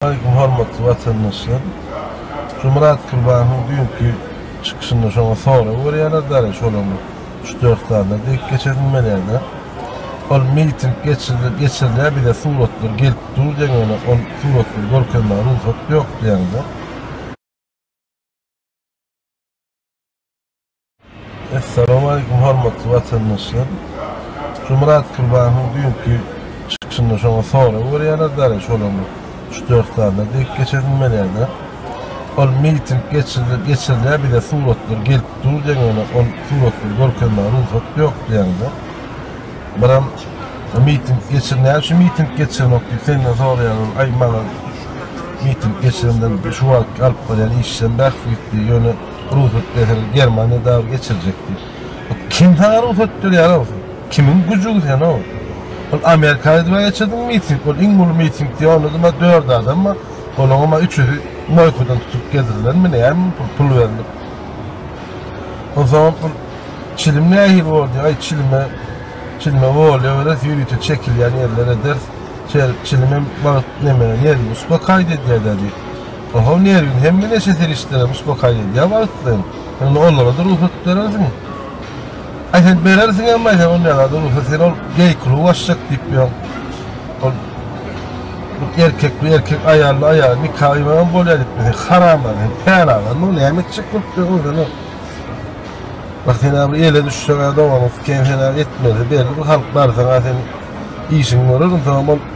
Hormatly watandaşlar! Şomyrat Kurbanowyň düýnki çykyşynda şoňa sorag berýärler, däl-ä şolaryň üç-dört sanyna dek geçesim gelýär-de. Ol miting geçirilýär, bize suratlar gelip dur diýen, ýöne ol suratlary görkezmäge rugsat ýok diýýäňiz-ä. Essalamu aleýkum hormatly watandaşlar. Şu Myrat Kurbanowyň düýnki çykyşynda şoňa sorag berýärler däli şolaň üç dört sanyna dek geç edinmelerde. Ol miting geçirildi geçirilýär bize suratlar gelip dur deňine ol suratlary görkezmäge rugsat ýok diýende. Biram miting geçir näme şu miting geçirmek diýip senden soraýarlar aý maňa miting geçirenden şu wagt alyp barýan işden bäh gitdi ýöne Rugsat berseler Germaniýa dagy geçirjek diýip. Kim saňa rugsat berýär o? Kimiň güjügi sen o? Ol Amerikany dibe geçirdiň miting, ol iň uly miting diýip onda dymma dört adam bar. Olaňam ma üçüsi Moýkadan tutup getirilenmi näme pul pul berilip. Onsoňam pul çilim nähili boldy aý çilime çilime bolýa beres ýörite çekilýän ýerler eder. Çer çilimem wagt neme nerwi uspokaýit edýär-dä diýip. Ohow nerwiň hemme neşe serişdeler uspokayt edýär wagtlaýyn. Onda onlara-da rugsat berersiň. Aý sen berersiň hem aý sen onda zada rugsat sen ol geý kluba açjak diýip ýör. Ol bir erkek bir erkek aýally aýal nika gyýmaga bolýar diýip sen haramlar sen pälazar muny näme etjek bolup ýörüň sen o. Bak sen abi ele düşseň a dogaňyň siken sen a etmeli belli bir halk barsaň a sen işiňi görerin soň ol